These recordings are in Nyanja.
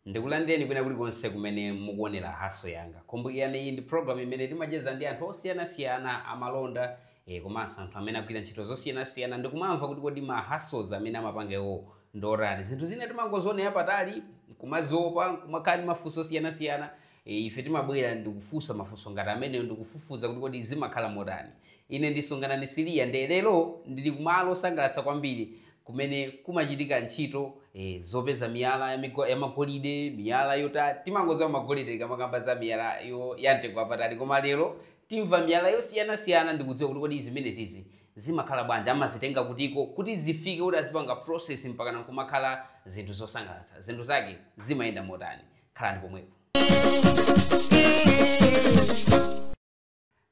ndikulandireni kwina kulikonse kumene mukuonera hustle yanga kumbukirani iyi ndi program imene timacheza ndi anthu osiyanasiyana amalonda e, komanso anthu amene agwira ntchito zosiyanasiyana ndikumamva kuti kodi ma hustles amene amapanga iwo ndi otani zinthu zina timangozionera patali kumaziopa kumakhala ndi mafunso osiyanasiyana Ife timabwera ndi kufunsa mafunso ngati amenewo ndi kufufuza kuti kodi zimakhala motani. Ine ndi Sunganani Siliya nde lero ndili ku malo osangalatsa kwambiri kumene kumachitika ntchito eh zopeza miyala ya migwa ya magolide, miyala yota timangodziwa magolide tikamakamba za miyala yo ya mtengo wapatali koma lero timva miyala yosiyanasiyana ndi kudziwa kuti kodi zimenezizi zimakhala bwanji, amazitenga kutiko kuti zifike kuti azipanga process mpakana nkumakhala zinthu zosangalatsa. Zinthu zake zimayenda motani? khalani pomwepo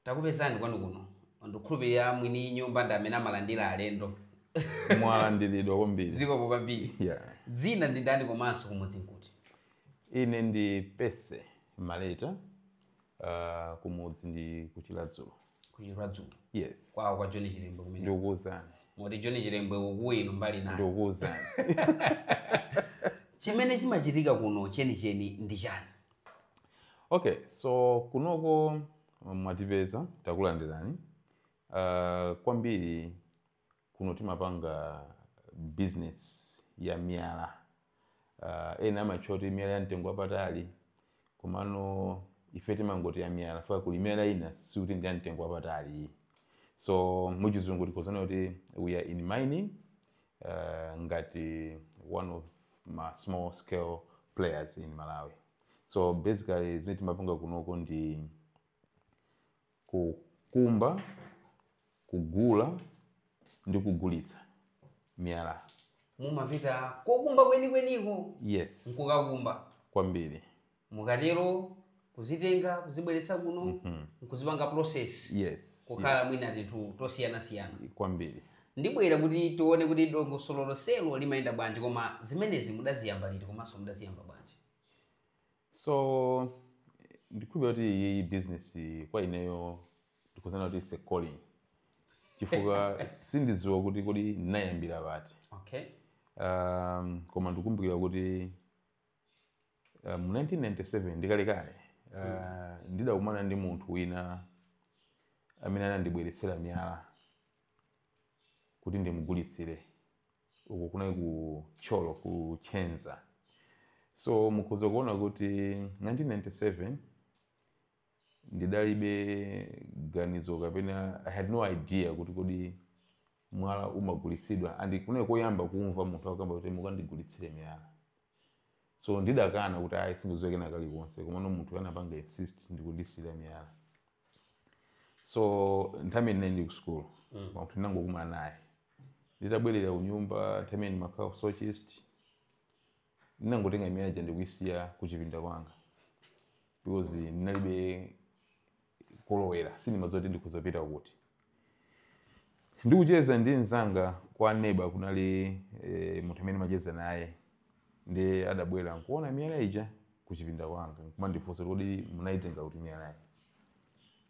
takupezani kwanu kuno ndikukhulupirira mwini nyumba ndi amene amalandira alendo mwalandiridwa kwambiri zikomo kwambiri yeah. dzina ndi ndani komanso kumudzi nkuti ine ndi pese maleta uh, kumudzi ndi ku Chiradzulu ku Chiradzulu yes kwawo kwa john chilembwe kumene ndikukuuzani moti john chilembwe mukuwina mbali nayo ndikukuuzani chimene chimachitika kuno chenicheni ndi chani okay so kunoko mwatipeza takulandirani uh, kwambiri Kuno timapanga business ya miyala. Uh, ena amatchula kuti miyala ya mtengo wapatali komano ife timangoti ya miyala chifukwa kuli miyala ina sikuti ndi ya mtengo wapatali so muchizungu tikhoza kunena kuti we are in mining uh, ngati one of ma small scale players in malawi so basically zimene timapanga kunoko ndi Kukumba, kugula ndi kugulitsa miyala. Mumapita kokumba kwenikweniko? Yes. Nkukakumba? Kwambiri. Mukatero kuzitenga kuzibweretsa kuno mm -hmm. nkuzipanga process yes, kukhala yes. mwina tinthu tosiyanasiyana kwambiri ndibwera kuti tione kuti dongosolo lonselo limayenda bwanji koma zimenezi mudaziyamba liti komanso mudaziyamba bwanji so ndikhulupirira kuti iyiyi business kwa ineyo ndikhoza kunena kuti it's a calling chifukwa sindidziwa kuti kodi ndinayambira pati okay um, koma ndikumbukira kuti uh, mu 1997 ndikalekale uh, ndidakumana ndi munthu wina amene anandibweretsera miyala kuti ndimugulitsire uku kunali ku tcholo ku Chenza so mukhoza kuona kuti 1997 ndidalibe ganizo kapena i had no idea kuti kodi mwala umagulitsidwa and kunali koyamba kumva munthu akukamba kuti mukandigulitsire miyala so ndidakana kuti ayi sindidziwa kena kalikonse komano munthu anapanga insist ndikundisiira miyala so nthawi imeneyo ndili ku school munthu ndinangokuma naye nditabwerera ku nyumba nthawi imeneyo ndimakhala ku Soche East ndinangotenga miyala ija ndikuyisiya ku chipinda kwanga because ndinalibe kolowera sindimadziwa kuti ndikazipita kuti ndikucheza ndi mzanga kwa neba kunali e, munthu amene ndimacheza naye ndiye adabwera nkuona miyala ija kuchipinda kwanga nkumandifunsa kuti munayitenga kuti miyalayi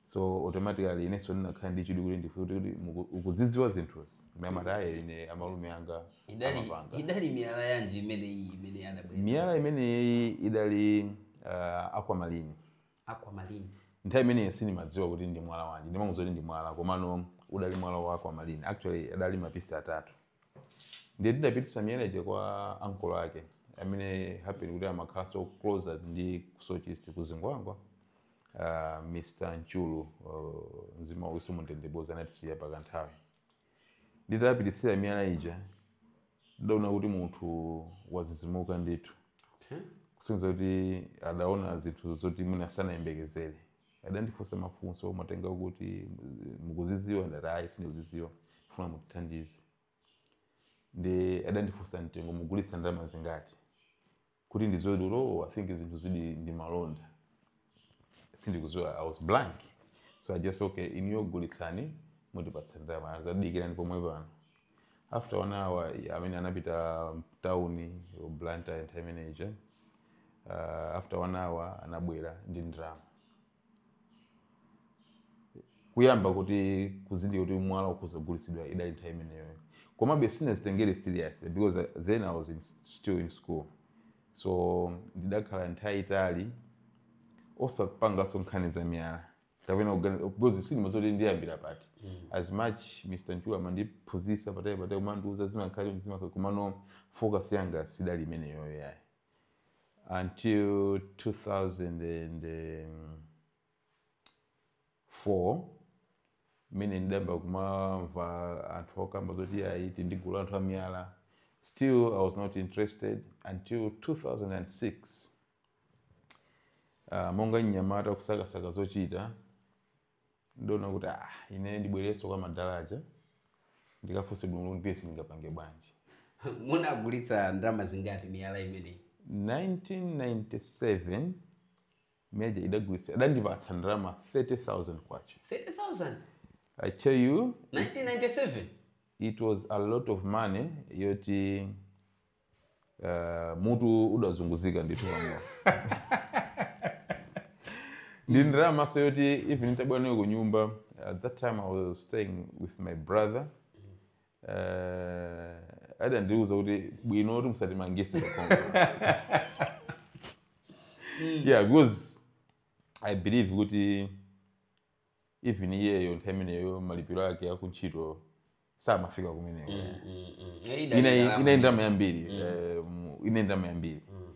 so automatically inenso ndinakhala ndi chidwi kuti ndifunse kuti muku- ukuzidziwa zinthuzi ndiye amati ayi ine amalume anga idali amapanga idali miyala yanji imene iyi imene anabwera miyala imeneyi idali uh, aquamarine Aquamarine. Nthawi imeneyi sindimadziwa kuti ndi mwala wanji. Ndimangodziwa kuti ndi mwala komano udali mwala wa aquamarine. Actually adali mapisi atatu. Ndiye ndidapititsa miyala ija kwa ankolo ake amene happen kuti amakhalanso closer ndi ku Soche East ku Zingwangwa. Uh, Mr. Nchulu uh, mzimu wawo uwuse mumtendere poti anatisiya pakanthawi. Nditapititsira miyala ija, ndidaona kuti munthu wadzidzimuka ndithu. Okay. Kusonyeza kuti adaona zinthu zoti mwina sanayembekezere. Adandifunsa mafunso, mwatenga kuti mukuzidziwa ndati ayi sindikuzidziwa ndifuna mutithandize. Ndiye adandifunsa mtengo mugulitsa ndalama zingati. kuti ndidziwe kuti oh, i think zinthu zili ndi malonda sindikudziwa i was blank so i just okay inuyo gulitsani mutipatsa ndalama adati dikirani pomwe pano after one hour amene anapita mtauni blantyre nthawi imeneyi uh, after one hour anabwera ndi ndalama kuyamba kuti kuzindikira kuti mwala ukhoza kugulitsidwa idali nthawi imeneyo komabe sinazitengere serious because then i was in, still in school so ndidakhala nthawi yaitali osapanganso nkhani za miyala kapena kuganiza- because sindimadziwa kuti ndiyambira pati as much mr nchulu amandiphunzitsa patali patali kumandiuza zimakhala chonchi zimakhala komano focus yanga sidali imeneyoyo yayi until 2004 mmene ndidayamba kumamva anthu akukamba zoti ayi tili ndi gulu la anthu amiyala still i was not interested until 2006 uh, monga mnyamata kusakasaka zochita ndidaona kuti ah, ine ndibwererenso kwa madala aja ndikafunse bwino kuti izi ndingapange bwanji munagulitsa ndalama zingati miyala imeneyi 1997 miyala ija nditagulitsa adandipatsa ndalama 30000 kwacha 30000 i tell you 1997 it was a lot of money yoti Eh, mutu udazunguzika ndithu pamwamba ndi ndalamanso yoti even nitabwera nayo ku nyumba at that time i was staying with my brother uh, adandiuza kuti bwino kuti musatimangise kuno yeah because i believe kuti even iyeyo nthawi imeneyo malipiro ake akuntchito samafika kumeneko mm, mm, mm. ine ndalama yambiri mm. eh, ine ndalama yambiri mm.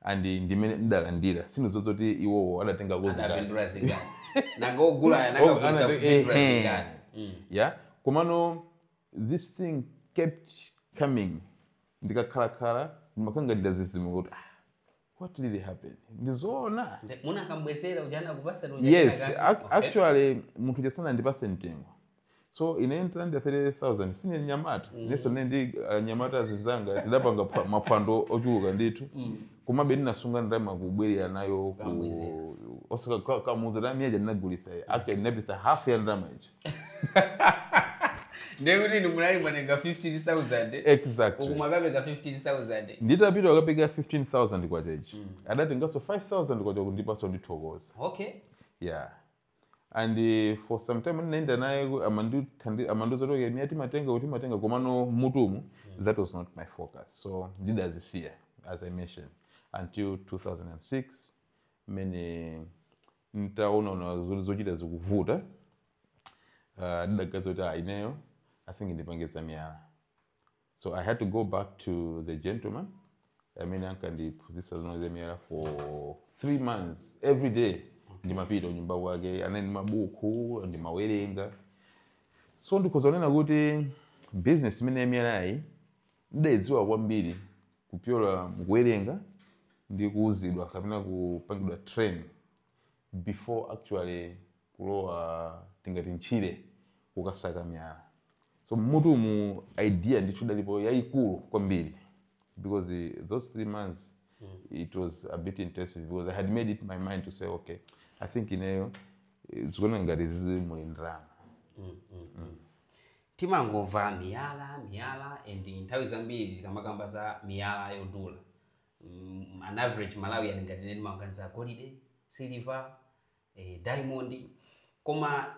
and ndimene ndidalandira sindidziwa zoti iwowo adatenga zingati mm. yeah komano this thing kept coming ndikakhalakhala ndimakhala ngati ndazizimuka kuti ah, what really happened ndizoona Nde- munakambwezera uja anakupasani uja yes anaka- ac- Okay. actually munthu uja sanandipase mtengo so ine nditalandira 30000 sine nyamata Mm. inenso ne ndi uh, nyamata zinzanga tidapanga pa- maphwando ochuluka ndithu Mm. komabe ndinasunga ndalama kubwerera nayo Kambwezera. kukamuuza miyala ija ndinagulisa actually ndinapatsa half ya ndalama ija ndekuti inu munali mwatenga 15000 exactly uku mwakapereka 15000 nditapita kukapereka 15000 kwacha ija mm. adatenganso 5000 kwacha kundipatsa kundithokoza okay yeah and uh, for some time ndinaenda naye ku- amandithandi- amandiuza kuti miyala timatenga kuti timatenga komano mutumu that was not my focus so ndidazisiya as i mentioned until 2006 mmene Ntaona zoti zochita zikuvuta, uh, ndidaganiza kuti ah, ineyo I think ndipange za miyala. So I had to go back to the gentleman amene ankandiphunzitsa zino za miyala for three months every day ndimapita kunyumba kwake anali ndi mabuku ndimawerenga so ndikhoza kunena kuti business imene ya miyalayi Ndidaidziwa kwambiri kupyolera mukuwerenga ndi kuuzidwa kapena kupangidwa train before actually kulowa tingati ntchire kukasaka miyala. So mmutumu idea ndithu idalipo yaikulu kwambiri because those three months it was a bit intensive because I had made up my mind to say okay I think ineyo eh, zikuoneka ngati zizi muli ndalama. Timangova miyala miyala and nthawi zambiri tikamakamba za miyala yodula mm, an average malawian ngati ine ndimaganiza golide siliva eh, diamond koma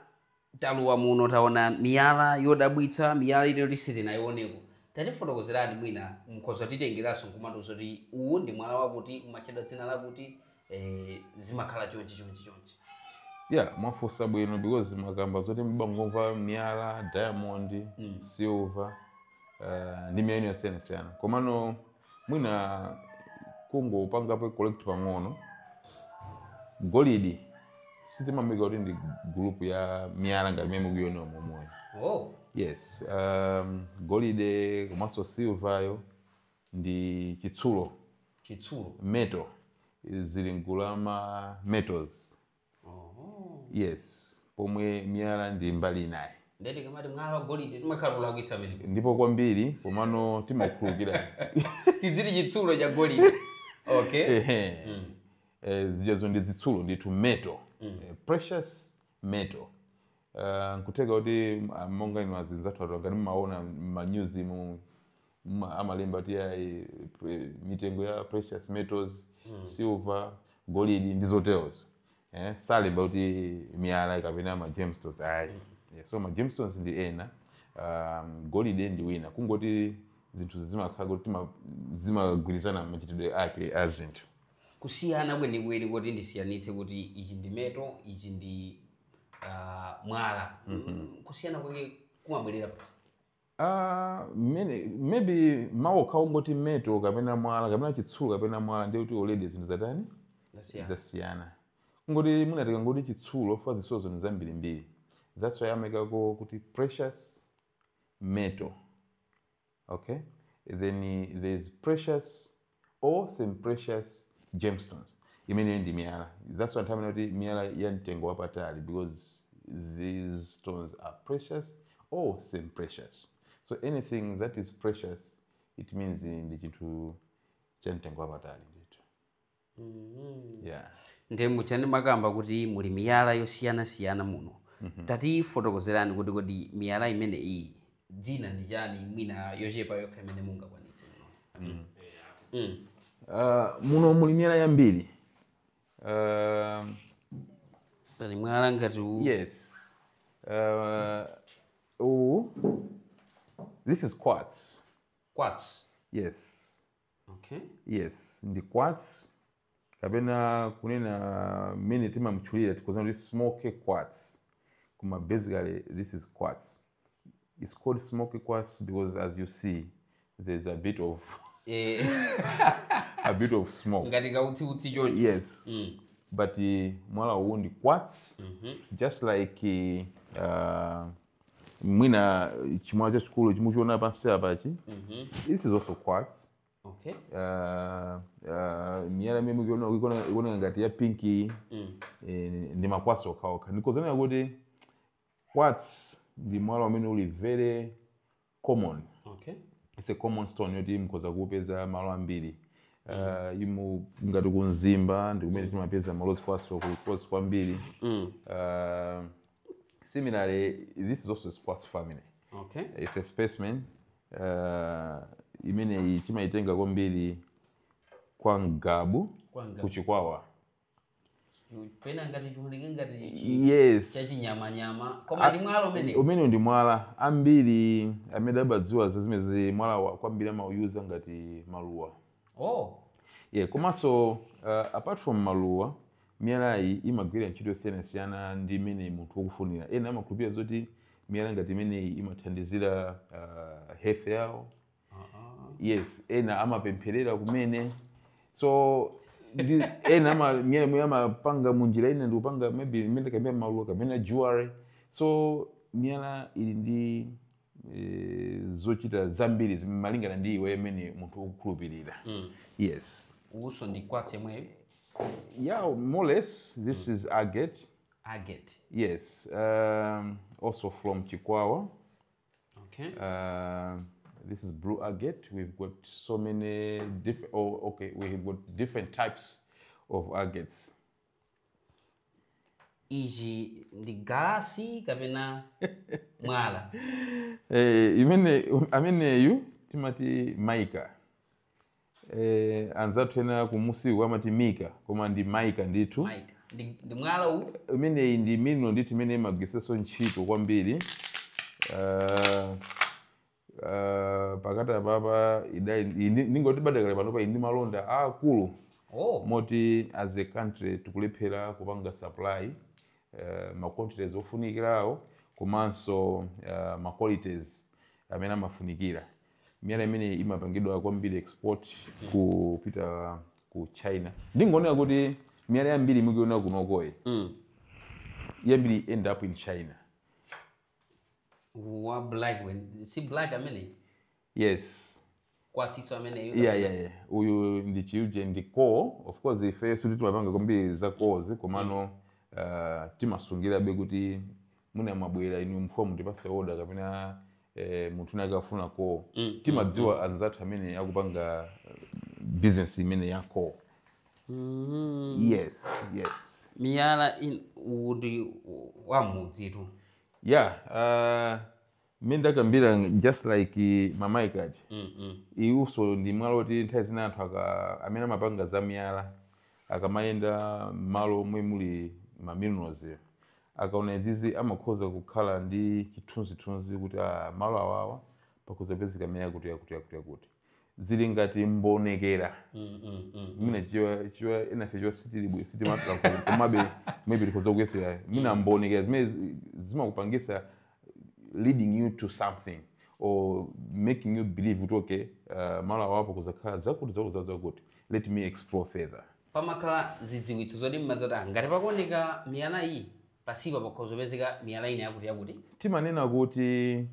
talowa muno taona miyala yodabwitsa miyala ine yoti sitinayioneko tatifotokozerani mwina mukhoza kutitengeranso nkumatiuza kuti uwu ndi mwala wakuti umatchedwa dzina lakuti eh, zimakhala chonchi chonchi chonchi yeah mwafunsa bwino because mwakamba zoti mumangomva miyala diamond mm. silver uh, ndi miyala yosiyanasiyana komano mwina kungopangapo correct pang'ono golidi sitimamuika kuti ndi group ya miyala ngati mmene mukuyionera momoyo oh. yes um, golide komanso silvayo ndi chitsulo, chitsulo metal zili mgulu la ma metals oh. yes pomwe miyala ndi mbali inayi ndeti tikamati mwala wa golide timakhala kulakwitsa amene ndipo kwambiri komano timakhululukira tidziti chitsulo cha golide okay ehe mm. eh, zijazo ndi zitsulo ndithu metal mm. eh, precious metal Uh, nkutheka kuti ah, monga inu azinzathu ngati mumaona m'manyuzimu mma- amalemba kuti ayi pre- mitengo ya precious metals silver golidi ndi zoterozo eh, salemba kuti miyala kapena ma gemstones ayi yeah, so ma gemstones ndi ena um, golide ndi wina kungoti zinthu zimakhala kuti tima- zimagwirizana machitidwe ake a zinthu kusiyana kwenikweni kuti ndisiyanitse kuti ichi ndi metal ichi ndi uh, mwala mm -hmm. kusiyana kwake kumabwerera Uh, maybe mawu okhawo ongoti metal kapena mwala kapena chitsulo kapena mwala ndiye kuti already zinthu zatani zasiyana kungoti sitikungoti chitsulo chifukwa zitsulozo ndi zambirimbiri that's why amaikako kuti precious metal okay then there is precious or semi precious gemstones imeneyo ndi miyala that's why timanena kuti miyala ya mtengo wapatali because these stones are precious or semi precious so anything that is precious it means ndi chinthu cha mtengo wapatali ndithu mm-hmm. yeah. nde mwakhala mukukamba kuti muli miyala yosiyanasiyana muno mm -hmm. tatifotokozerani kuti kodi miyala imene iyi dzina ndi chani mwina yochepa yokha imene mungakwanitse muno mm. mm. uh, muno muli miyala yambiri uh, pali mwala ngati uwu yes uh, uwu this is quartz quartz yes okay yes ndi quartz kapena kunena mmene timamtchulira tikhoza kunena kuti smoke quartz koma basically this is quartz it's called smoke quartz because as you see there's a bit of eh a bit of smoke ngati kautsi utsi choncho yes Mm. but uh, mwala uwu ndi quartz just like uh, mwina chimwala chachikulu chimuchiona pansi apachi mhm. this is also quartz okay. uh, uh, miyala imene mukuiona ikuoneka ngati ya pinki mm. eh, ndi makwatsi okhaokha ndikhoza kunena kuti quartz ndi mwala umene uli very common okay. it's a common stone yoti mukhoza kupeza malo ambiri Uh, imu ngati kumzimba ndi kumene timapeza ma rose quartz kwambiri mm. uh, similarly this is also a quartz family okay. it's a specimen uh, imeneyi timayitenga kwambiri kwa ngabu Kwa Ngabu. kuchikwawa pena ngati chiwoneke ngati chi- yes chachinyamanyama koma ndi mwala umene umenewu ndi mwala ambiri amene amadziwa za zimenezi mwala wa kwambiri amauyuza ngati maluwa oh yeah komanso uh, apart from maluwa miyalayi imagwira ntchito yosiyanasiyana ndi mmene munthu ukufunira ena amakhulupirira zoti miyala ngati imeneyi imathandizira uh, health yawo yes ena amapempherera kumene so ndi ena ama miyala amapanga munjira ina ndikupanga maybe imene kapena maluwa kapena jewelry so miyala ili ndi eh, zochita zambiri zimene malingana ndi iwe mmene munthu ukukhulupirira yes uyunso ndi kwatsi yemweyo yeah more or less this is agate agate yes um, also from chikwawa Okay. Uh, this is blue agate. We've got so many different, oh, okay, we've got different types of agates. Ichi ndi galasi kapena mwala. Eh, imene, ameneyu timati maika. eh, anzathu ena kumudziku amati mika koma ndi maika ndithu maika ndi, ndi mwala uwu imeneyi ndi mineral ndithu imene imagwiritsanso ntchito kwambiri Ah, ah, pakati apapa idali ndi- ndingoti padakali panopa ndi malonda aakulu oh moti as a country tikulephera kupanga supply uh, ma quantities ofunikirawo komanso uh, ma qualities amene amafunikira miyala imeneyi imapangidwa kwambiri export kupita ku china ndingonena kuti miyala yambiri mukuiona kunokoyi yambiri end up in china wa black wen- si black amene yes kwatsinso ameneyo yeah, yeah, yeah. uyu ndi chiuje ndi coal of course ife sikuti timapanga kwambiri za coals komano uh, timasungirabe kuti mwina mwabwera inu mfumu mutipase oda kapena eh, munthu nake akafuna coal Mm, timadziwa anzathu amene akupanga eh, business imene ya coal Mm. yes yes miyala in- uwu ndi u- wamudzitu yeah, mmene ndakambira just like ma mica aja iwunso ndi mwala woti nthawi zina anthu aka- amene amapanga za miyala akamayenda m'malo omwe muli ma minerals akaona izizi amakhoza kukhala ndi chithunzithunzi kuti ah, malo awawa pakhoza kupezeka miyala yakuti yakuti yakuti yakuti zili ngati mbonekera mm, mm, mm, mm. mwina Chichewa enafe Chichewa sitili bwe sitimapita ku- komabe maybe likhoza kuyesera mwina mbonekera zimene zi- zimakupangisa leading you to something or making you believe kuti okay uh, malo awa pakhoza kukhala zakuti zakuti zakuti zakuti let me explore further pamakhala zidziwitso zoti mumadziwa kuti "Ah, ngati pakuoneka miyala iyi pansipa pakhoza kupezeka miyala ina yakuti yakuti timanena kuti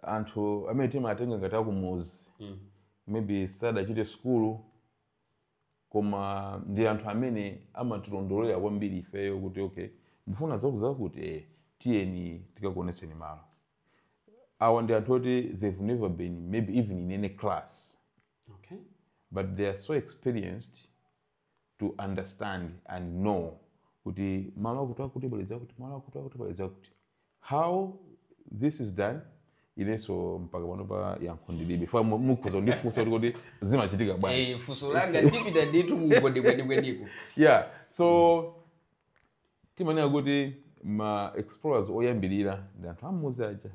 anthu amene timatenga ngati akumuzi mm. maybe sadachite sukulu koma ndi anthu amene amatilondolera kwambiri ifeyo kuti okay mufuna zakuti zakuti eh, tiyeni tikakuonetseni malo awa ndi anthu oti they've never been maybe even in any class okay. but they are so experienced to understand and know kuti malo akuti akuti pali zakuti malo akuti akuti pali zakuti how this is done inenso mpaka pano pa yankho ndilibe if mukhoza kundifunsa kuti kodi zimachitika bwanji Eh, funso langa tipita ndithu kungondikwenikweniko yeah so timanena kuti ma explorers oyambirira ndi anthu am'mudzi aja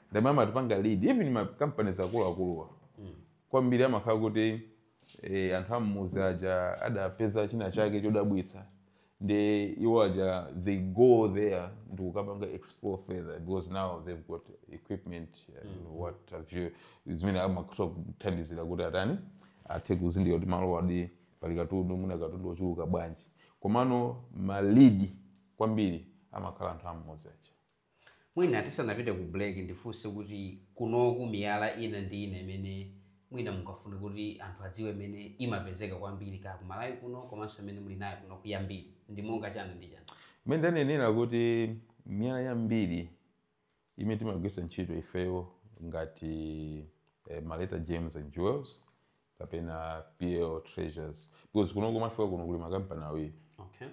ndi amene amatipanga lead even ma companies akuluakuluwa hmm. kwambiri amakhala kuti e, anthu am'mudzi aja adapeza china chake chodabwitsa ndi iwo aja they go there ndikukapanga explore further because now they've got equipment and mm. what have you zimene amakuthandizira kuti atani athe kuzindikira kuti malo awadi pali katundu mwina katundu wochuluka bwanji komano ma lead kwambiri amakhala anthu am'mudzi aja mwina tisanapite ku break ndifunse kuti kunoku miyala ina ndi ina imene mwina mungafune kuti anthu adziwe imene imapezeka kwambiri kaya ku Malawi kuno komanso imene muli nayo kuno kuno yambiri ndi monga chani ndi chani mmene ndanenera kuti miyala yambiri imene timagwiritsa ntchito ifeyo ngati eh, Maleta Gems and Jewels kapena PL Treasures because kuno komwe mwafika kuno kuli makampani awiri okay.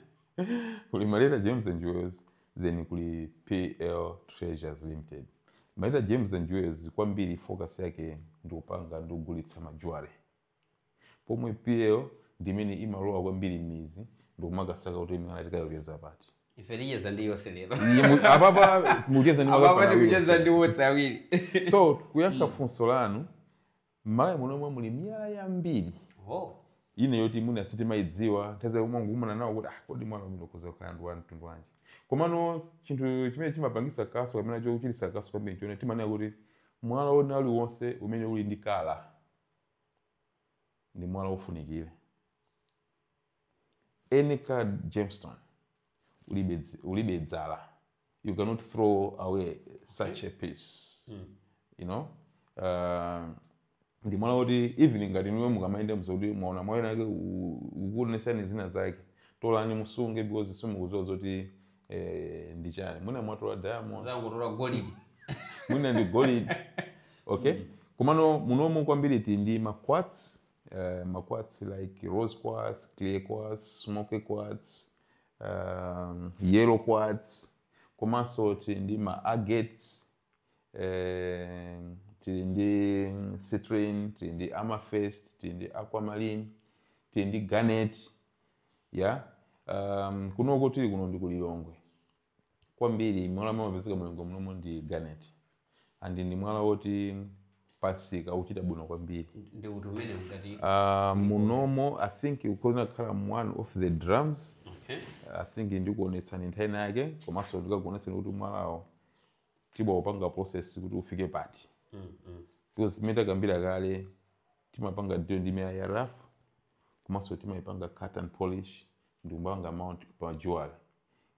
kuli Maleta Gems and Jewels then kuli PL Treasures Limited Maleta Gems and Jewels kwambiri focus yake ndikupanga ndikugulitsa ma jewelry pomwe PL ndimene imalowa kwambiri m'midzi ndikumakasaka kuti miyala tikayipeza pati. ife ticheza ndi yonse lero Iye mu- apapa mucheza ndi apapa makampani tikucheza awiri. ndi onse awiri so kuyankha funso lanu m'Malawi munomo muli miyala yambiri oh. ina yoti mwina sitimayidziwa nthawi zina umangokumana nawo kuti ah, kodi mwala umene ukhoza kukhala ndi wa mtundu wanji komano chinthu chimene chimapangisa kaso kapena chochitisa kaso kwambiri chomwe timanena kuti mwala wina uliwonse umene uli ndi kala ndi mwala wofunikira any coloured gemstone ulibe dzi- ulibe dzala you cannot throw away such a piece you know uh, ndi mwala woti even ngati ndiwe mukamayenda muti mwaona mwala winawake ukuonesani zina zake tolani musunge because simukuziwa zoti eh, ndi chani mwina mwatola diamond mwatola golidi mwina ndi golidi okay mm. komano munomo kwambiri tili ndi ma quartz uh, eh, ma quartz like rose quartz clear quartz smoky quartz um, yellow quartz komanso tili ndi ma agates eh, tili ndi citrine tili ndi amethyst tili ndi aquamarine tili ndi garnet ya um, kunoko tili kuno ndi kulilongwe kwambiri mwala amene umapezeka mu Lilongwe munomo ndi garnet and ndi mwala woti pamsika ukuchita bwino kwambiri ndi kuti umene ngati uh, munomo i think ukhozina kukhala one of the drivers okay i think ndikuonetsani nthawi ina yake komanso ndikakuonetsani kuti mwalawo timaupanga process kuti ufike pati mm, mm. because mmene takambira kale timapanga deal ndi miyala ya rough komanso timaipanga cut and polish ndi kumapanga mount pa jewelry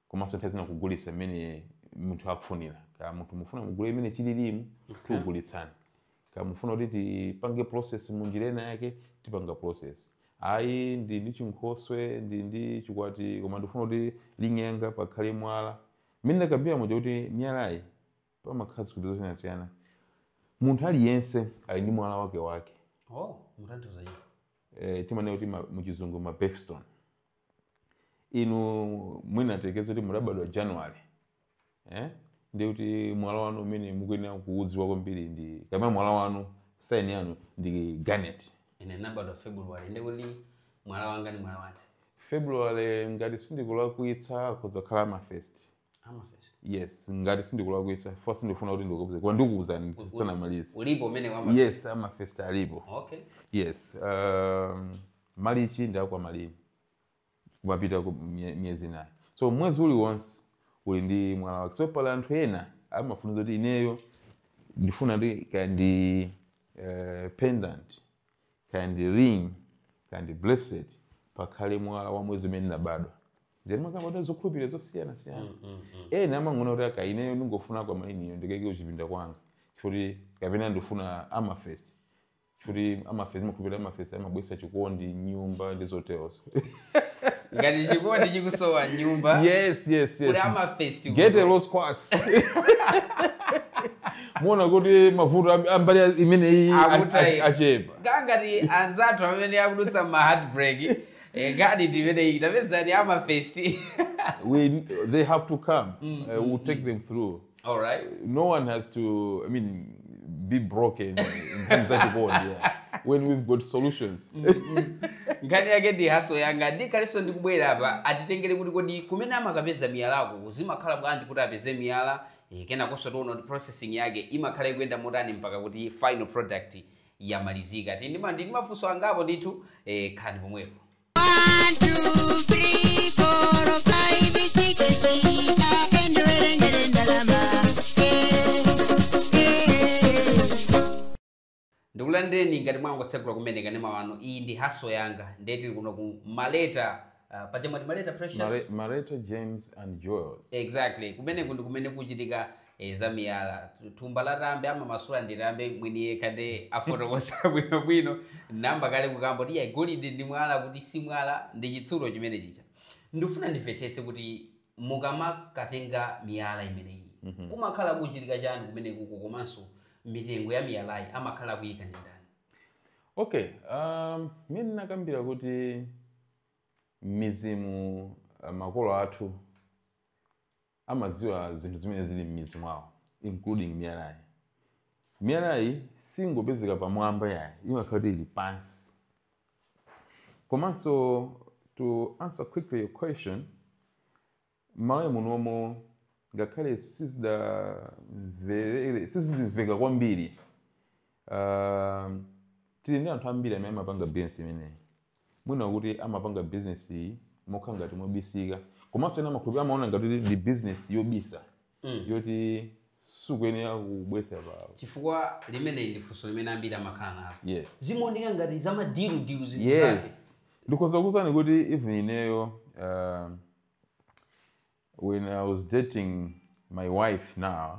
komanso nthawi zina kugulitsa mmene munthu akufunira kaya munthu mufuna mugule mmene chililimu tikugulitsani kaya mufuna kuti tipange process mu njira ina yake tipanga process ayi ndi ndi chinkhoswe ndi ndi chikwati koma ndifuna kuti ring yanga pakhale mwala mmene ndakambira muja kuti miyalayi pamakhala zikhulupiriro zosiyanasiyana munthu aliyense ali ndi mwala wake wake oh mutanthauza iye eh, timanena kuti ma- muchizungu ma birthstone inu mwina tiyerekeze kuti mudabadwa january eh? ndi kuti mwala wanu umene mukuyenera kuudziwa kwambiri ndi kapena mwala wanu sign yanu ndi garnet ine ndinabadwa february ndi kuti mwala wanga ndi mwala wati february ngati sindikulakwitsa akhoza kukhala amethyst Amethyst. yes ngati sindikulakwisa for sure ndikufuna kuti ndikuuze koma ndikuuzani Uli- tisanamalize ulipo umene wa amethyst yes amethyst alipo okay yes um, March ndi aquamarine kumapita ku mye- miyezi inayo so mwezi uliwonse uli ndi mwala wake so pali anthu ena amafunsa kuti ineyo ndifuna kuti kaya ndi uh, pendant kaya ndi ring kaya ndi bracelet, pakhale mwala wa mwezi umene unabadwa zimakamba za zokhulupirira zosiyanasiyana mm, mm, mm. ena amang'ona kuti aka ineyo ndingofuna kwa mainiyo ndikaike kuchipinda kwanga chifukti kapena ndifuna amethyst chifukti amethyst amakhulupirira amethyst amabwesa chikondi m'nyumba ndi zoterozo ngati chikondi chikusowa m'nyumba yes yes yes amethyst get a rose quartz muona kuti mavuto ambali imeneyi achepa aa ngati anzathu amene akudutsa m'ma heartbreak eh, ngati imeneyi tapezani amethyst they have to come mm, uh, we'll mm, take mm. them through All right. No one has to, I mean, be broken in terms of chikondi, yeah. When we've got solutions. nkhani yake ndi hustle yanga ndikhalanso ndikubwera apa atitengere kuti kodi kumene amakapeza miyalako zimakhala bwanji kuti apeze miyala eh, kenakonso tiona kuti processing yake imakhala ikuyenda motani mpaka kuti final product yamalizika tili ndi ma- ndi ndi mafunso angapo ndithu eh, khalani pomwepo ndikulandireni ngati mwangotsegula kumene kanema wanu iyi ndi hustle yanga ndiye tili kuno ku maleta uh, pajamati maleta precious Mare- Mareto Gems and Jewels. exactly kumeneko ndi kumene kukuchitika e, za miyala Tu- thumba la tambe amamasula ndi tambe mwini yekha nde afotokoza bwinobwino nayamba kale kukamba kuti yayi golide ndi mwala kuti si mwala ndi chitsulo chimenechija ndifuna ndimvetsetse kuti mukamakatenga miyala imeneyi Mhm. kumakhala kuchitika chani kumenekuko komanso mitengo ya miyalayi amakhala kuyika ndi ndani okay um, mmene ndinakambira kuti mizimu uh, makolo athu amadziwa zinthu zimene zili m'midzi mwawo including miyalayi. Miyalayi singopezeka pamwamba yayi, imakhala kuti ili pansi. Komanso to answer quickly your question, m'Malawi munomo ngakhale sizi- sizimveka kwambiri uh, tili ndi anthu ambiri amene amapanga business imeneyi mwina kuti amapanga business iyi mokhala ngati mobisika komanso ena amakhulupirira amaona ngati kuti ndi business yobisa mm. yoti sukuyenera kubwesa poyera chifukwa limeneyi ndi funso limene ambiri amakhala nalo yes. zimaoneka ngati za madilu dilu zinthu zake yes. ndikhoza kukuuzani kuti even ineyo uh, when i was dating my wife now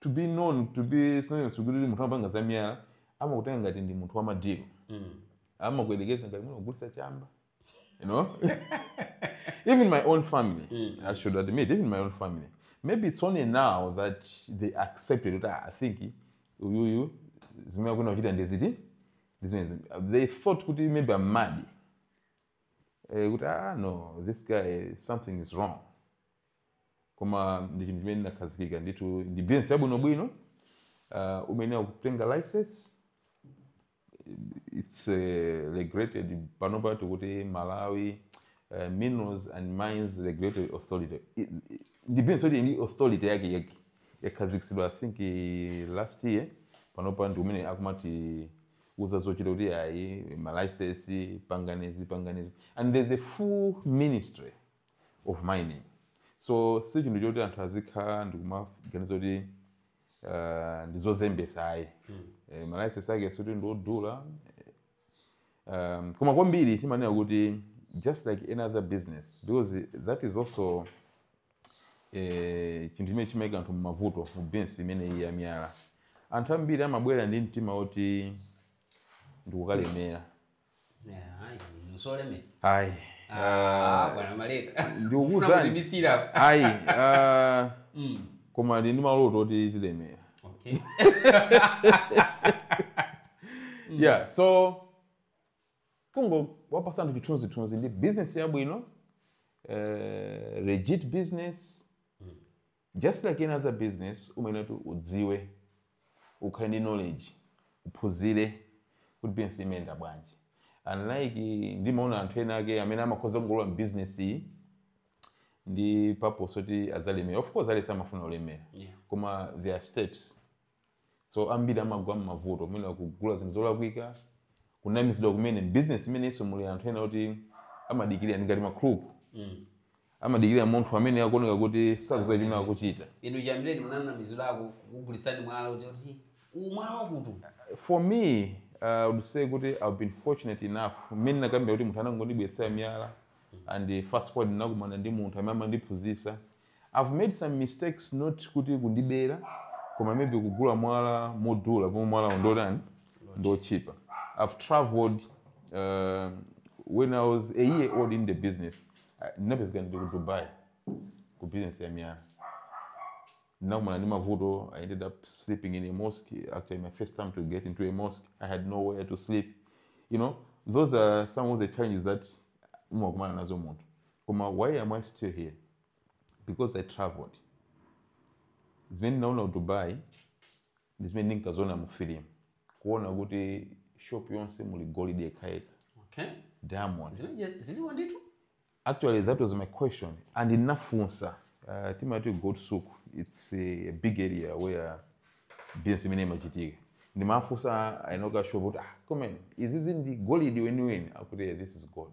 to be known to be synonymous kuti munthu amapanga za miyala amakutenga ngati ndi munthu wamadiko mm. amakuyerekeza ngati munthu ogulisa chamba you know even my own family mm. i should admit even my own family maybe it's only now that they accepted it ah, i think uyuyu zimene akuna kuchita ndi ziti they thought kuti maybe i'm mad eh, kuti ah no this guy something is wrong koma ndi chinthu chimene chinakhazikika ndithu ndi business yabwinobwino uh, umayenera kutenga license it's uh, regulated panopa tikuti malawi uh, minerals and mines regulatory authority I- i- ndi business yoti authority yake yake yakhazikitsidwa i think eh, last year panopa ndi umene akumati uza zochita kuti ayi malicense pangani izi pangani izi and there's a full ministry of mining so si chinthu choti anthu azikhala ndikumaganiza kuti uh, ndizozembesa ayi mm. e, malaisensi ake sikuti ndiodula um, koma kwambiri timanena kuti just like any other business because that is also eh, chinthu chimene chimaika anthu mumavuto mu business imene iyi yamiyala anthu ambiri amabwera ndi mtima woti ndikukalemera ayi ah, ndikukuuzani ayi ah, mm. koma ndi maloto oti tilemera mm. yeah so kungowapasa anthu chithunzithunzi ndi business yabwino uh, legit business mm. Just like any other business umayenera kuti udziwe, ukhale ndi knowledge, uphunzire kuti business imayenda bwanji. Unlike ndimaona anthu ena ake amene amakhoza kungolowa m'business iyi ndi purpose yoti adzalemera. Of course aliyense amafuna kulemera Yeah. koma there are steps so ambiri amagwa m'mavuto mwina kugula zinthu zolakwika kunamizidwa kumene mbizinesi imenenso muli anthu ena oti amadikirira ndi ngati makhuluku mm. amadikirira munthu amene akuoneka kuti sakuziwa chimene akuchita inu chiyambireni munanamizidwako kugulitsidwa mwala kuti kuti mwala wakuti for me uh, I would say kuti i've been fortunate enough mmene nakambira kuti munthu anangondibweretsera miyala and fast forward ndinakumana ndi munthu amene amandiphunzitsa I've made some mistakes not kuti kundibera koma maybe kugula mwala modula pomwe mwalawo ndotani ndotchipa I've traveled uh, when I was a year old in the business I- ndinapezeka ndili ku Dubai ku business ya miyala ndinakumana ndi mavuto I ended up sleeping in a mosque actually my first time to get into a mosque I had nowhere to sleep you know those are some of the challenges that umakumana nazo munthu Koma why am I still here? Because I travelled. Zimene ndinaona ku Dubai ndi zimene ndinkaziona mu film. Kuona kuti shop yonse muli golide yekhayekha, Okay. diamond. Zimene zili real ndithu. Actually, that was my question. And ndinafunsa uh, timati gold souk. It's a big area where business imene imachitika. Ndimafunsa eni ake a shop kuti ah, koma izizi ndi golide weniweni akuti yeah, this is gold.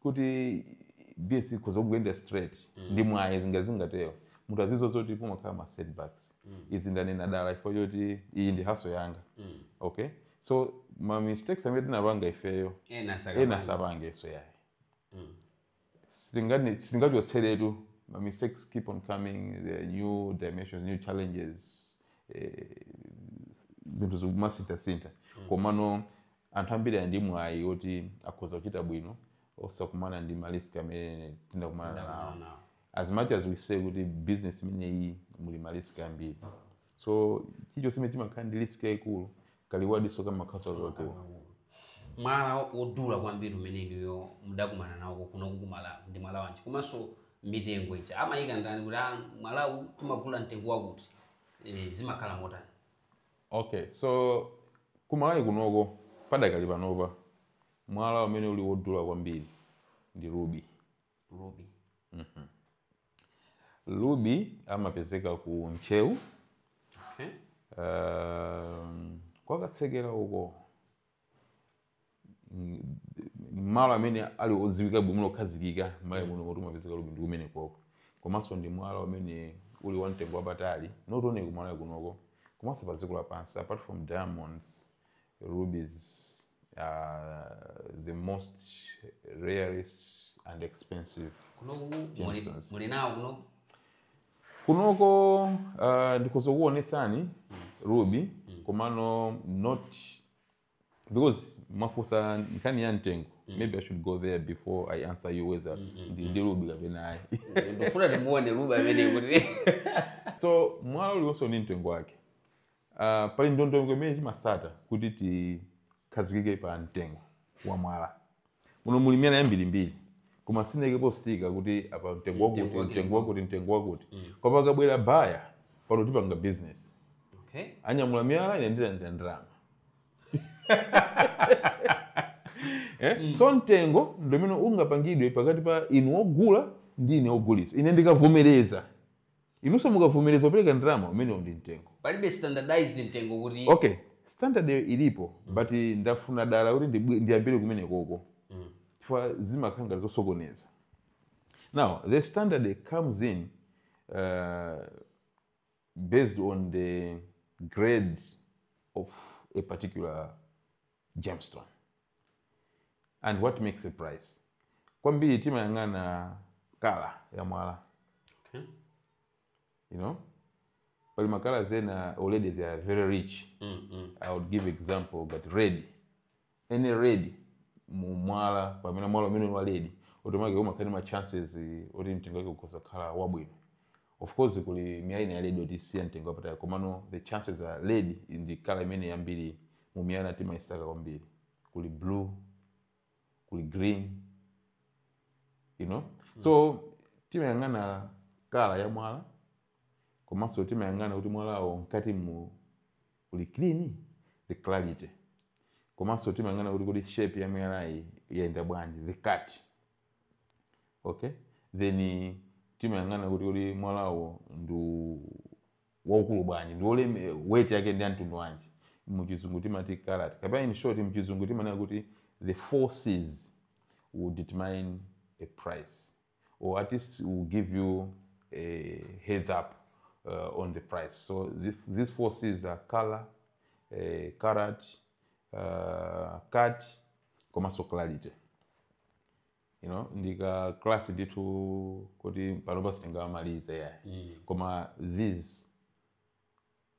kuti business ikhoza kungoyenda straight ndi mwayi zinga zingatero munthu azidziwa zoti pamakhala ma setbacks izi ndanena dala chifukwa choti iyi ndi hustle yanga okay so ma mistakes amene tinapanga ifeyo ena saka ena asapangenso yayi sitingani- sitingachotseretu ma mistakes keep on coming there are new dimensions new challenges eh, zinthu zikumasinthasintha komano Anthu ambiri ali ndi mwayi woti akhoza kuchita bwino osakumana ndi ma risk amene tinakumana nawo. Ndakumana nawo. As much as we say kuti business imeneyi muli ma risk ambiri. So chilichonse chimene chimakhala ndi risk yayikulu ka reward nso kamakhalanso kakakulu. mwala wodula kwambiri umene inuyo mudakumana nawo kunoko ku Malawi ndi mwala wanji komanso mitengo ija amayika ndani kuti ah, mwalawu timagula mtengo wakuti e, zimakhala motani Ok so ku Malawi kunoko padakali panopa mwala umene uli wodula kwambiri ndi ruby. Ruby. Mm -hmm. Ruby amapezeka ku Ntcheu. Okay. Uh, kwa Katsekera uko. malo amene ali odziwika bwino okhazikika m'Malawi muno kuti kumapezeka ruby ndi kumenekoko komanso ndi mwala umene uli wa mtengo wapatali not only ku Malawi kunoko komanso pa dziko lapansi apart from diamonds rubies are the most rarest and expensive muli nawo kuno kunoko uh, ndikhoza kukuonesani ruby komano not because mwafunsa nkhani ya mtengo maybe i should go there before i answer you whether ndili ndi ruby kapena ayi ndifuna ndimuone ruby amene kuti so mwala uliwonse ndi mtengo wake Uh, pali ndondomeko imene timasata kuti tikhazikike pa mtengo wa mwala muno muli miyala yambirimbiri koma sinaikepo sticker kuti apa mtengo wakuti Mtengo wake mtengo wakuti mtengo wakuti koma pakabwera buyer pano tipanga business okay anyamula miyala ine ndilandira ndalama eh? so mtengo ndi umene ungapangidwe pakati pa inu ogula ndi ine ogulitsa ine ndikavomereza Inunso mukavomereza kupereka ndalama umenewo ndi mtengo. Palibe standardized mtengo kuti. Okay standard yo ilipo but ndafuna dala kuti ndiyambire kumenekoko chifukwa zimakhala ngati zosokoneza now the standard comes in uh, based on the grade of a particular gemstone and what makes it price kwambiri timayang'ana kala ya mwala okay. you know pali makala ena already they are very rich mm, mm. i would give example but red any red mu mwala pamene mwala umene wa red automatic umakhala ndi ma chances eh, oti mtengo wake ukhoza kukhala wabwino Of course kuli miyala ina ya red yoti si ya mtengo wapatali komano the chances are red ndi kala imene kwambiri mu miyala timayisaka kwambiri. Kuli blue, kuli green, you know? So timayang'ana kala ya mwala komanso timayang'ana kuti mwalawo mkati mu uli clean, the clarity. Komanso timayang'ana kuti kodi shape ya miyalayi yayenda bwanji, the cut. okay then timayang'ana kuti kuti mwalawo ndi waukulu bwanji ndi woleme weight yake ndi yamtundu wanji muchizungu timati carat kapena in short mchizungu timanena kuti the four Cs will determine a price or at least will give you a heads up uh, on the price so this, these four Cs are color uh, carat uh, cut komanso clarity you know ndika class ndithu kuti panopa sitingamalize yeah. mm. koma these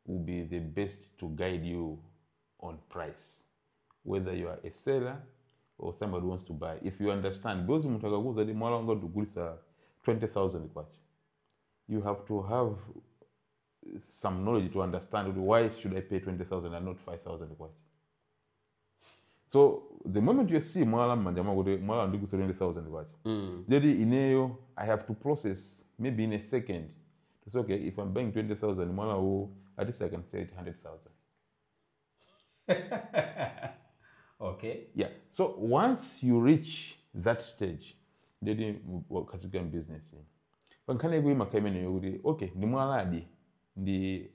will be the base to guide you on price whether you are a seller or somebody wants to buy if you understand because munthu akakuuza kuti mwala wanga ndigulisa 20000 kwacha you have to have some knowledge to understand kuti why should i pay 20000 and not 5000 kwacha so the moment you see mwala mmanja mwako kuti mwala ndigulisa 20000 kwacha mm. ndeti ineyo i have to process maybe in a second to say okay if i'm buying 20000 mwala uwu at least i can sell it 100000 okay yeah so once you reach that stage ndeti wakhazikika mbusiness pa nkhani yake imakhala imeneyo kuti okay ndi mwaladi ndi eh,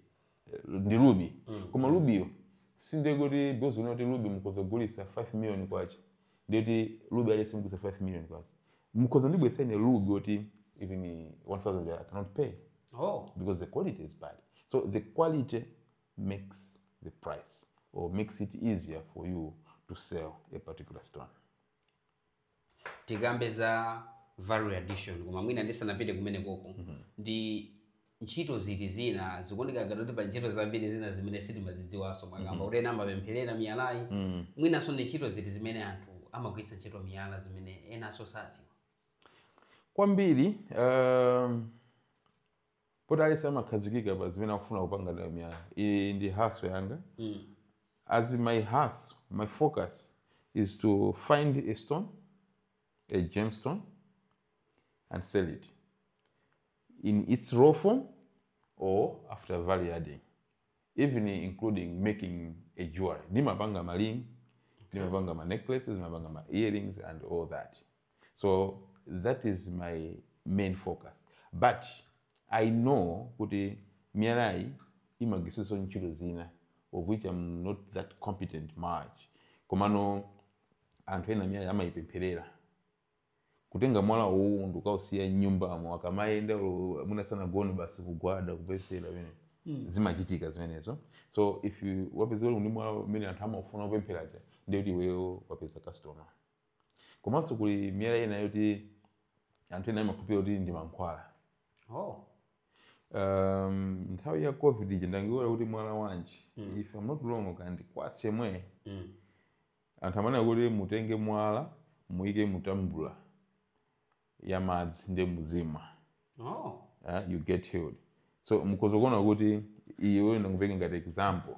ndi ruby mm. koma ruby yo sinde kuti because munaona kuti ruby mukhoza kugulisa 5 million kwacha ndeti ruby aliyense mugulisa 5 million kwacha mukhoza kundibweretsa ine ruby oti even 1000 i cannot pay oh because the quality is bad so the quality makes the price or makes it easier for you to sell a particular stone. tikambe za value addition koma mwina ndisanapite kumene koko ndi ntchito ziti zina zikuoneka ngati kuti pa ntchito zambiri zina zimene sitimazidziwanso mwakamba kuti ena amapempherera miyalayi mwinanso ndi ntchito ziti zimene anthu amagwiritsa ntchito miyala zimene enanso sadziwa Kwambiri, um, poti aliyense amakhazikika pa zimene akufuna kupanga nayo miyala iyi ndi hustle yanga mm. as my hustle my focus is to find a stone a gemstone and sell it in its raw form or after value adding even including making a jewelry ndimapanga ma ring ndimapanga ma necklaces ndimapanga ma earrings and all that so that is my main focus but i know kuti miyalayi imagwiritsidwanso ntchito zina of which am not that competent much komano anthu ena miyala amayipempherera kutenga mwala uwu ndikukausiya m'nyumbamo akamayenda olo mwina sanagone basi kugwada kupemphera pamene zimachitika zimenezo so if you wapeza uli ndi mwala umene anthu amafuna kupempheraja ndiye kuti iweyo wapeza customer komanso kuli miyala ina yoti anthu ena amakhulupirira kuti ndi mankhwala oh. um, nthawi ya covid ija ndangoyiwala kuti mwala wanji mm. if I'm not wrong ndi quartz yemwe mm. anthu amanena kuti mutenge mwala muyike mu tambula ya madzi nde muzimwa oh. uh, you get healed so mukuziona kuti iwe ndakupeka ngati example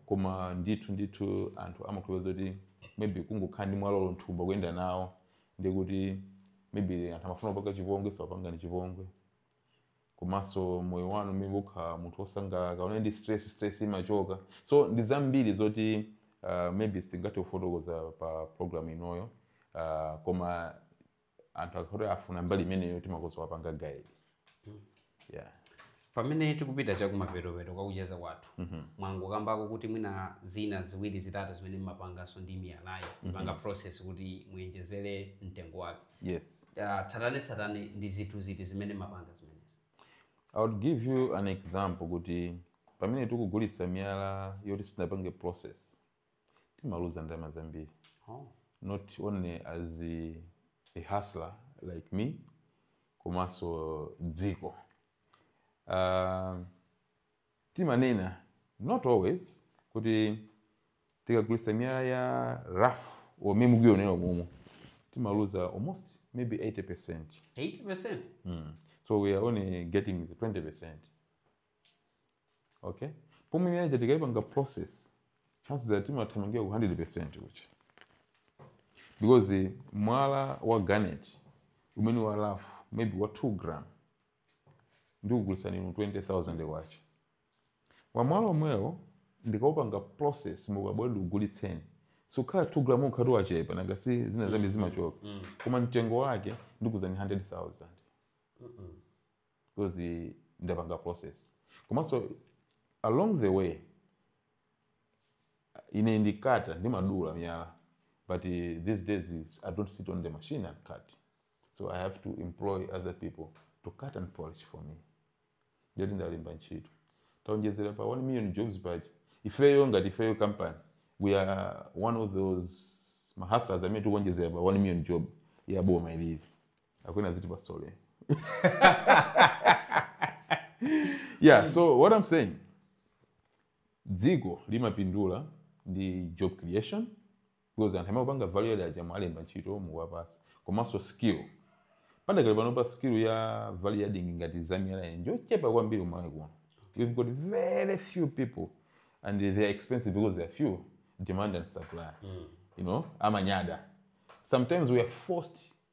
koma ndithu ndithu anthu amakhulupirira kuti maybe kungokhala ndi mwalawo mthumba kuyenda nawo ndikuti maybe anthu amafuna kukupangani chipongwe sakupangani chipongwe komanso moyo wanu maybe mukhala munthu wosangalala mukakhala ndi stress stress imachoka so ndi zambiri zoti uh, maybe sitingathe kufotokoza pa program inoyo uh, koma anthu akati afuna mbali imeneyo timakhoza kuwapanga guide yeah pamene tikupita chakumapetopeto kwa kucheza kwathu mwangokambako kuti mwina zina ziwiri zitatu zimene mmapanganso ndi miyalayo kupanga process kuti muyenjezere mtengo wake yes Ah, tsatanetsatane ndi zinthu ziti zimene mmapanga zimenezi I would give you an example kuti pamene tikugulitsa miyala yoti sinapange process timaluza ndalama zambiri oh. not only as a, a hustler like me komanso dziko uh, timanena not always kuti tikagulitsa miyala ya rough omwe mukuyonera umumu timaluza almost maybe 80 percent 80 percent mm. so we are only getting the 20 percent okay pomwe miyala ija tikaipanga process chances are timathamangira ku 100% kucha because mwala wa garnet umene wa rough maybe wa 2 gram ndikugulitsani inu 20000 kwacha wamwala omwewo ndikaupanga process mukabwera ndikugulitseni sukhala 2 gram ukhala uti wachepa nanga si zinazo mbi zimachoka koma mtengo wake ndikuzani 100000 because ndapanga process komanso along the way ine ndi cutter ndimadula miyala but uh, these days is- i don't sit on the machine and cut so i have to employ other people to cut and polish for me ndiye kuti ndalemba ntchito taonjezera pa 1 million jobs paja ifeyo ngati ifeyo company we are one of those mahustlers amene tikuonjezera pa 1 million job ya boma ilili akwena ziti pasole yeah so what i'm saying dziko limapindula ndi job creation because anthu amapanga value add aja mwalemba ntchito muwapasa komanso skill padakali pano pa skill ya value adding ngati zamiyala iyi njochepa kwambiri kumalawi kuno we've got very few people and they are expensive because they are few demand and supply you know amanyada sometimes we are forced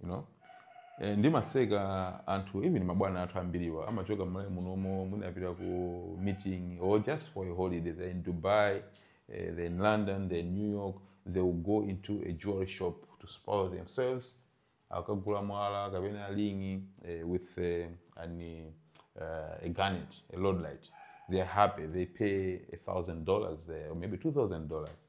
you know eh, ndimaseka anthu even mabwana athu ambiriwa amachoka mmalawi munomo mwina apita ku meeting or just for a holiday they're in dubai eh, they're in london they're in new york they will go into a jewelry shop to spoil themselves akagula mwala kapena lingi eh, with eh, an, eh, a garnet a lord light they're happy they pay a thousand dollars there or maybe two thousand dollars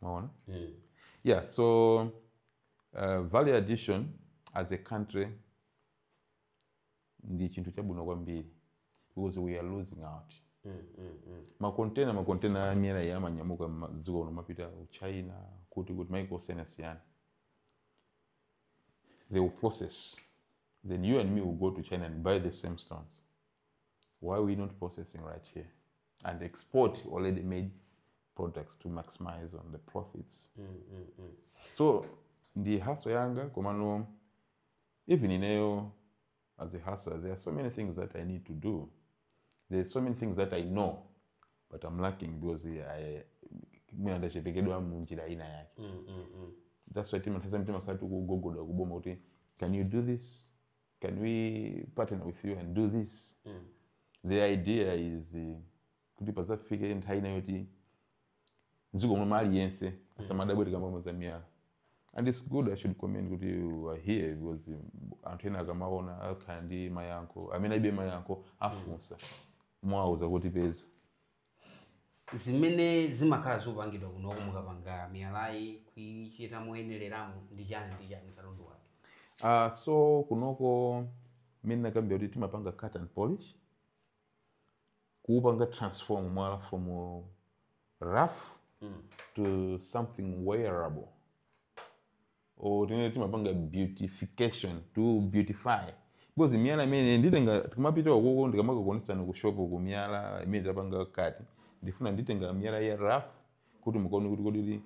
mwaona mm. yeah so uh, value addition as a country ndi chinthu chabwino kwambiri because we are losing out mm, mm, mm. makontena makontena amiyala iya amanyamuka mdziko uno amapita ku china kuti kuti maiko osiyanasiyana they will process then you and me will go to china and buy the same stones why we not processing right here and export already made products to maximize on the profits mm, mm, mm. so ndi haso yanga komano even ineyo as a hustler there are so many things that i need to do there are so many things that i know but i'm lacking because I- mwina ndachepekedwa munjira ina yake Mm, mm, mm. that's why timathaza mtima sati kugogoda kuboma kuti can you do this can we partner with you and do this mm. the idea is uh, kuti pazafike nthawi ina yoti mdziko momwe aliyense mm. asamadabwe tikamakamba za miyala and it's good i should commend kuti you are here because um, anthu ena akamaona akhala ndi mafunso amene alibe mayankho afunsa mm. mwauza kuti peza zimene zimakhala zikupangidwa kunoko mukapanga miyalayi kuichita moyeneramo ndi chani ndi chani katundu wake Uh, so kunoko mene ndakambira kuti timapanga cut and polish kuupanga transform mwala from uh, rough to something wearable or tinene timapanga beautification to beautify because miyala imene nditenga tikamapita ukoko ndikamakakuonetsani ku shop ku miyala imene tapanga cut ndifuna nditenga miyala ya rough kuti mukaone kuti kodi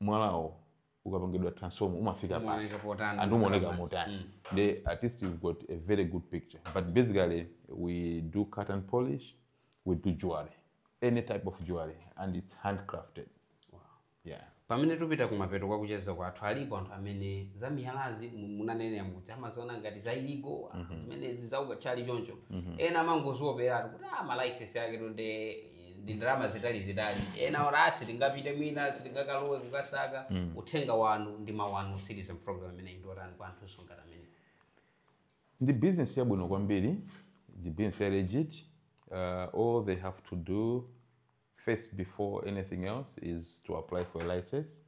mwalawo ukapangidwa transform umafika pati Umaoneka potani, and umaoneka umaoneka motani Mm. at least you've got a very good picture but basically we do cut and polish we do jewelry any type of jewelry and it's handcrafted Yeah. Pamene tikupita kumapeto kwa kucheza kwathu alipo anthu amene za miyalazi mu- munanenera muti amaziona ngati za illegal mm-hmm. zimenezi za ukatchali choncho mm-hmm. ena amangozioperatu kuti ah ma license ake tonde ndi ndalama zitalizitali ena olo asi tingapite mwina sitingakalowe kukasaka mm. uthenga wanu ndi mawu anu otsiriza program imeneyi ndi otani kwa anthu oterowo amene ndi business yabwino kwambiri ndi business ya legit uh, all they have to do First before anything else is to apply for a license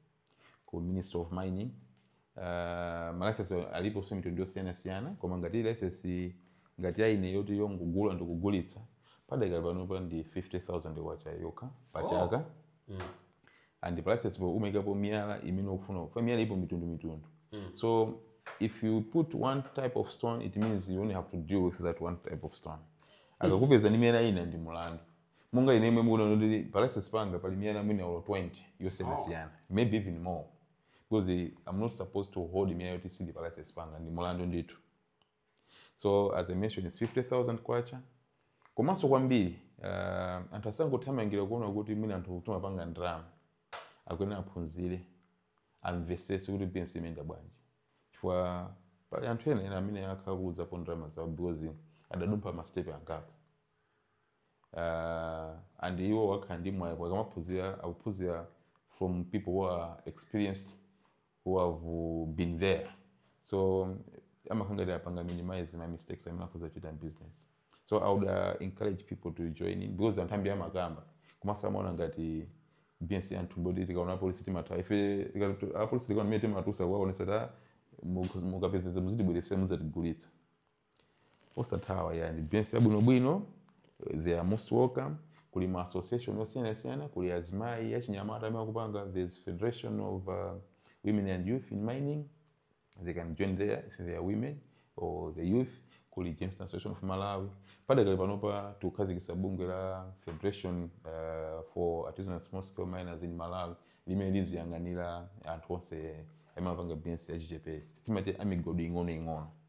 ku Ministry of Mining. Uh, ma license alipo so mitundu yosiyanasiyana koma ngati license ngati ya ine yoti yongogula ndikugulitsa padakali pano pa ndi 50000 kwacha yokha pa Oh. chaka Mm. and pa license po umayikapo miyala imene ukufuna kufa miyala ipo mitundu mitundu Mm. so if you put one type of stone it means you only have to deal with that one type of stone akakupeza ndi miyala ina ndi mulandu Monga ine yemwe mukuona kuti ndi pa license panga pali miyala mwina olo 20 yosiyanasiyana. Maybe even more. Because I'm not supposed to hold miyala yoti sili pa license panga ndi mulandu ndithu. So as I mentioned it's 50,000 kwacha. Komanso kwambiri uh, anthu asangothamangira kuona kuti mwina anthu timapanga ndalama. Akuyenera aphunzire amvesese kuti business imayenda bwanji. Chifukwa pali anthu ena ena amene akhakulapo ndalama zawo because adadumpha ma step angapo. uh, and iwo amakhala ndi mwayi akamaphunzira akuphunzira from people who are experienced who have uh, been there so amakhala ngati apanga minimize ma mistakes amene akhoza kuchita business so i would uh, encourage people to join in because anthu ambiri amakamba komanso amaona ngati business ya anthu poti tikaona apolisi timathawa ife tikatu- apolisi tikaona mmene timatusa kuwaonesa kuti mukapezeza muzitibweresera muzatigulitsa osathawa ayi ndi business yabwinobwino they are most welcome kuli ma association osiyanasiyana kuli azimayi achinyamata amene akupanga there's federation of uh, women and youth in mining they can join there if they are women or the youth kuli gemstone association of malawi padakali panopa tikukhazikitsa bungwe la federation uh, for artisanal small scale miners in malawi limene liziyang'anira anthu onse amene amapanga business yachichepere timati amigodi ing'onoing'ono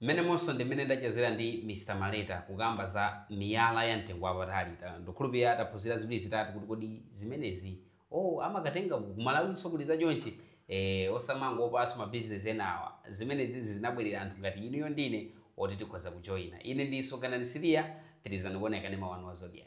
Mmenemonso ndi mmene ndachezera ndi Mr Maleta kukamba za miyala ya mtengo wapatali, ndikukhulupirira taphunzira ziwiri zitatu kuti kodi zimenezi oh amakatenga ku ku Malawinso kuli za chonchi? Eh osamangoopanso ma business enawa, zimenezizi zinabwerera anthu ngati inuyo ndi ine oti tikhoza kujoina. Ine ndi Soganani Siliya, pitirizani kuona kanema wanu wa Zodiak.